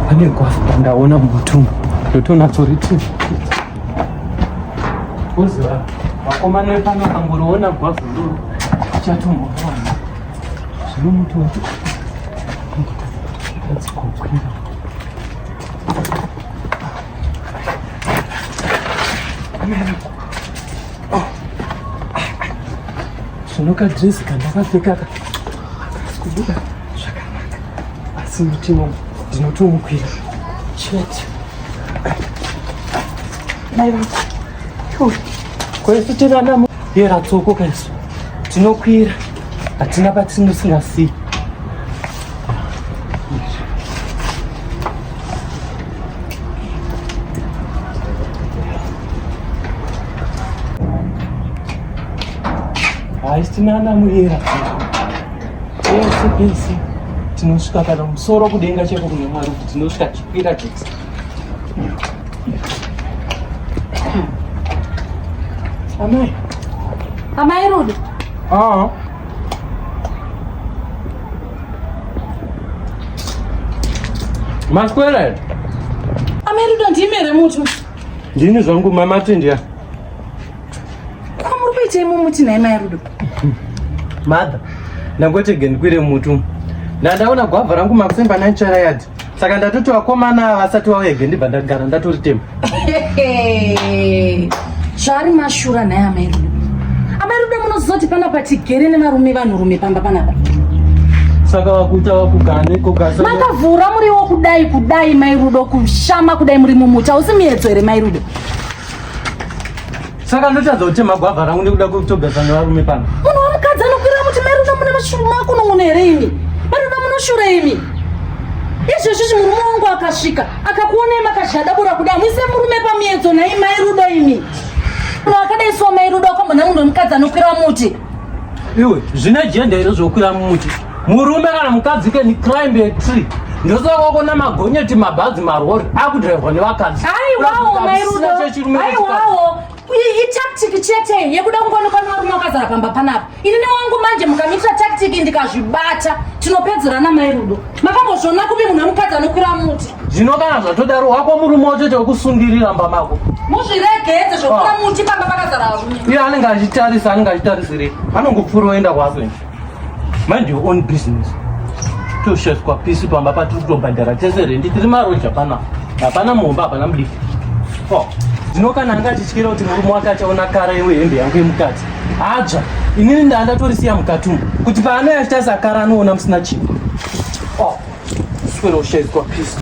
pane gwafta ndaona mutumbu ndotonatsoriti uziva vakomana vepano kangoriona gwavhu ndoro ichatomboona zvino muti wati adzikokwira America. zvino kadresi kandakapfeka ka kubuda zvakanaka asi mutimo ndinotomukwira chete mai vako kwesu tirana yera tsoko kaisu tinokwira hatina patinusingasiyi haisitinana muyera pese pese tinosvika kana musoro kudenga cheko kune mwari kuti tinosvika tichikwira tese amai amai rudo aa maswera amai rudo ndimere mutu Ndini zvangu mama Tindia. Kamuri kuita imwe muti naye mai Rudo. Mother, ndangotege ndikwire mutu. Ndandaona gwavha rangu makusemba na nchara yadi. Saka ndatoti vakomana vasati vauyege ndibva ndagara ndatori tema. Zvari mashura naye amai Rudo. Amai Rudo munozoti panapa tigere nevarume vanhurume pamba panapa. Saka wakuita wakugara neko gasa. Makavhura muriwo kudai kudai mai Rudo kushama kudai muri mumuta usi miyedzo here mai Rudo. Saka ndotadza kuti magwavha rangu nekuda kwekutogasa nevarume pano. Munhu wamukadzi anokwira muti mai Rudo mune mashuma akunong'ona here imi? Mai Rudo munoshura imi. Izvezvi chimurume wangu akasvika akakuonai makazhadabura kudai muise murume pamiyedzo nhai mai Rudo imi. Munhu akadai so mai rudo kwambo nemunhu wemukadzi anokwira muti. Iwe zvine jenda here zvokwira muti. Murume kana mukadzi can climb a tree. Ndosaka wako na magonyeti mabhazi marori akudrivwa nevakadzi. Aiwawo mai rudo. Aiwawo. Itactic chete yekuda kungoonekwa nevarume vakazara pamba panapa. ini newangu manje mukamita tactic ndikazvibata tinopedzerana mai rudo makambozviona kupi munhu wemukadzi anokwira muti zvino kana zvatodaro wako murume wacho chekusundirira mba mako muzviregedze zvokwira ah. muti pamba pakazara varume iye anenge achitarisa anenge achitarisirei anongopfuura oenda kwako mind your own business tosheswa pisi pamba patiri kutobhadhara tese rendi tiri maroja pana hapana mumba hapana mudiki oh. zvino kana anga achityira kuti murume wake achaona kara iwe hembe yangu yemukadzi Hadzva, inini ndaa ndatorisiya mukati umu kuti paanoya achita sakara anoona musina chii. Oh, swero shedzwa peace.